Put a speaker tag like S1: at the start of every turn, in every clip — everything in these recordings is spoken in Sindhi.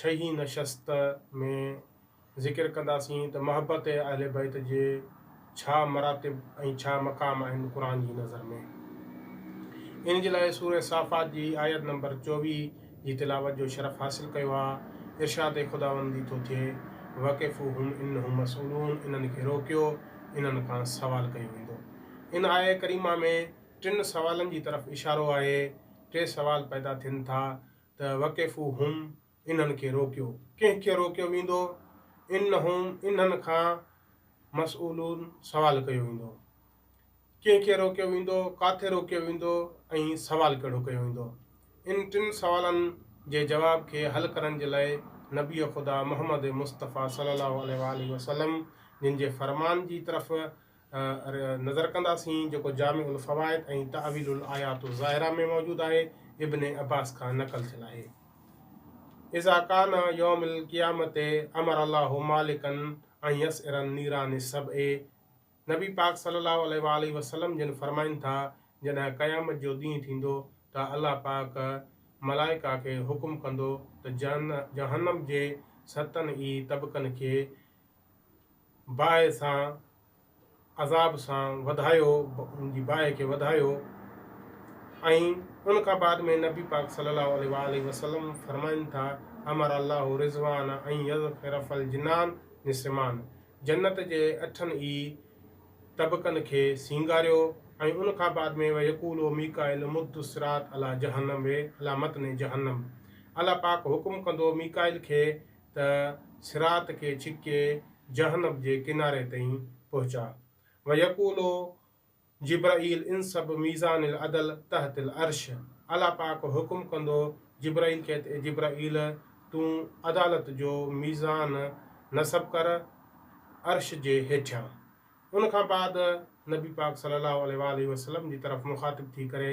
S1: ڇهين نشست ۾ ذڪر ڪنداسين ته محبت ۽ اهل بيت جي ڇا مراتب ۽ ڇا مقام آهن قرآن جي نظر ۾. ان جي لاء سورة صافات جي آيت نمبر چوويهه جي تلاوت جو شرف حاصل ڪيو آ، ارشاد خداوندي ٿو ٿئي، وقفوهم انهم مسئولون انهن کي روڪيو، انهن کان سوال ڪيو ويندو. ان آيه ڪريمه ۾ ٽن سوالن جي طرف اشارو آهي، ٽي سوال پيدا ٿين ٿا، ته وقفوهم انهن کي روڪيو، ڪنهن کي روڪيو ويندو؟ انهم انهن کان مسئولون سوال ڪيو ويندو. ڪنهن کي روڪيو ويندو، ڪاٿي روڪيو ويندو ۽ سوال ڪهڙو ڪيو ويندو؟ ان ٽن سوالن جي جواب کي حل ڪرڻ جي لاء نبي خدا محمد مصطفيٰ صلّي اللّٰه عليه واٰله وسلّم جن جي فرمان جي طرف نظر ڪنداسين جيڪو جامع الفوائد ۽ تاويل الايات الظاهره ۾ موجود آهي ابن عباس کان نقل ٿيل آهي اذا کان يوم القيامت امر الله مالڪن ۽ يس ارن نيران سب اي نبي پاڪ صلي الله عليه وآله وسلم جن فرمائن ٿا جڏهن قيامت جو ڏينهن ٿيندو ته الله پاڪ ملائڪا کي حڪم ڪندو ته جهنم جي ستن ئي طبقن کي باهه سان عذاب سان وڌايو ان جي باهه کي وڌايو ۽ ان کان بعد ۾ نبي پاڪ صلي الله عليه واله وسلم فرمائن ٿا امر الله رضوان ان يذخر فالجنان نسمان جنت جي اٺن ئي طبقن کي سينگاريو ۽ ان کان بعد ۾ ويقول او ميڪائيل مد الصراط علي جهنم وي على متن جهنم الله پاڪ حڪم ڪندو ميڪائيل کي ته صراط کي ڇڪي جهنم جي ڪناري تائين پهچاء. ويقول جبرئيل انصب ميزان العدل تحت العرش الله پاڪ حڪم ڪندو جبرئيل کي ته اي جبرئيل تون عدالت جو ميزان نصب ڪر عرش جي هيٺيان. ان کان بعد نبي پاڪ صلّي اللّٰه عليه واٰله وسلّم جي طرف مخاطب ٿي ڪري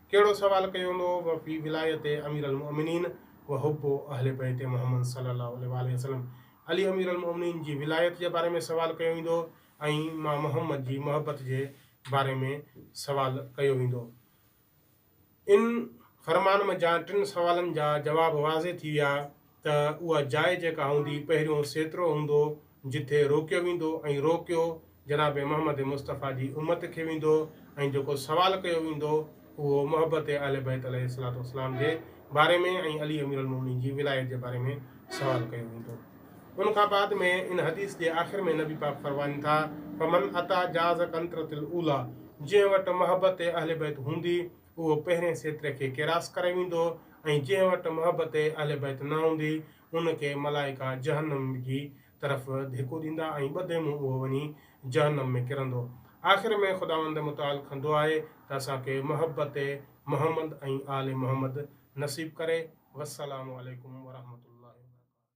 S1: ڪهڙو سوال ڪيو هوندو هو و في ولايت امير المؤمنين و حب اهل بيت محمد صلي الله عليه واٰله وسلم علي امير المؤمنين جي ولايت جي باري ۾ سوال ڪيو ويندو هو ۽ مان محمد جي محبت جي باري ۾ سوال ڪيو ويندو هو ان فرمان م جا ٽن سوالن جا جواب واضح ٿي ويا ته اها جاء جيڪا هوندي پهريون سيترو هوندو جٿي روڪيو ويندو ۽ روڪيو جناب محمد مصطفيٰ جي امت کي ويندو ۽ جيڪو سوال ڪيو ويندو اهو محبت اهل بيت عليه الصلوة والسلام جي باري ۾ ۽ علي امير المؤمنين جي ولايت جي باري ۾ سوال ڪيو ويندو ان کان بعد ۾ ان حديث جي آخر ۾ نبي پاڪ فرمائن ٿا فمن اتى جاز قنطرة الاوليٰ جنهن وٽ محبت اهل بيت هوندي اهو پهرين سيتري کي ڪراس ڪري ويندو ۽ جنهن وٽ محبت اهل بيت نه هوندي ان کي ملائڪا جهنم جي طرف ڌڪو ڏيندا ۽ ٻڌي منهن اهو وڃي جهنم ۾ ڪرندو. آخر ۾ خداوند متعال کان دعا آهي ته اسان کي محبت محمد ۽ آل محمد نصيب ڪري. والسلام عليڪم ورحمة الله وبرڪاته.